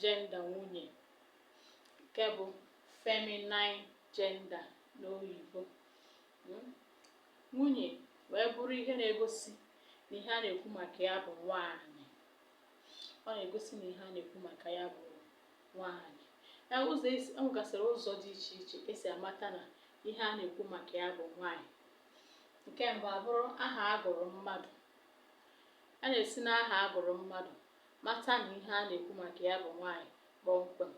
jenda nwunye nke bụ feminine gender n'oyibo hmm? nwunye wee bụrụ ihe na-egosi na ihe a na-ekwu maka ya bụ nwaanyị ọ na-egosi na ihe a na-ekwu maka ya bụ nwaanyị e, ụzọ e nwegasịrị e ụzọ dị iche iche e si amata na ihe a na-ekwu maka ya bụ nwaanyị nke mbụ abụrụ aha a gụrụ mmadụ a na-esi n'aha a gụrụ mmadụ Mata na ihe a na-ekwu maka ya bụ nwaanyị kpọmkwem.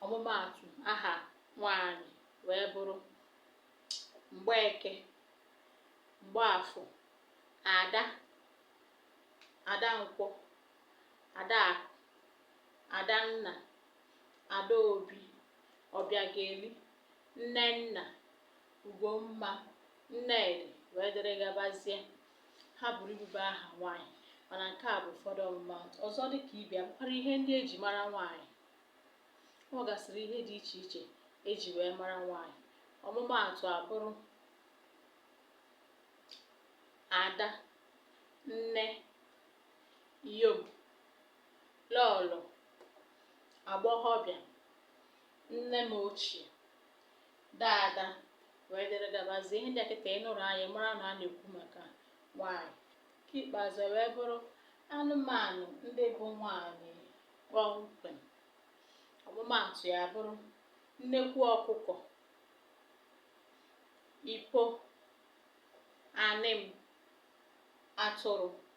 Ọmụmaatụ aha nwaanyị wee bụrụ Mgbeke, Mgbaafọ, Ada, Adankwọ, Adaakụ, Adanna, Adaobi, Ọbịageli, Nnenna, Ugomma, Nnedị wee dịrị gabazie. Ha buru ibu bụ aha nwaanyị mana nke a bụ ụfọdụ ọmụmaatụ. Ọzọ dị ka ibe ya bụkwara ihe ndị e ji mara nwaanyị. O nwegasịrị ihe dị iche iche e ji wee mara nwaanyị. Ọmụmaatụ abụrụ ada, nne, iyom, lọọlọ, agbọghọbịa, nne m ochie, dada wee dịrị gabazie ihe ndị a kịta ị nụrụ anyị mara na a na-ekwu maka nwaanyị nke ikpeazụ e wee bụrụ anụmanụ ndị bụ nwaanyị kpọmkwem ọmụmaatụ ya bụrụ nnekwu ọkụkọ ipo anịm atụrụ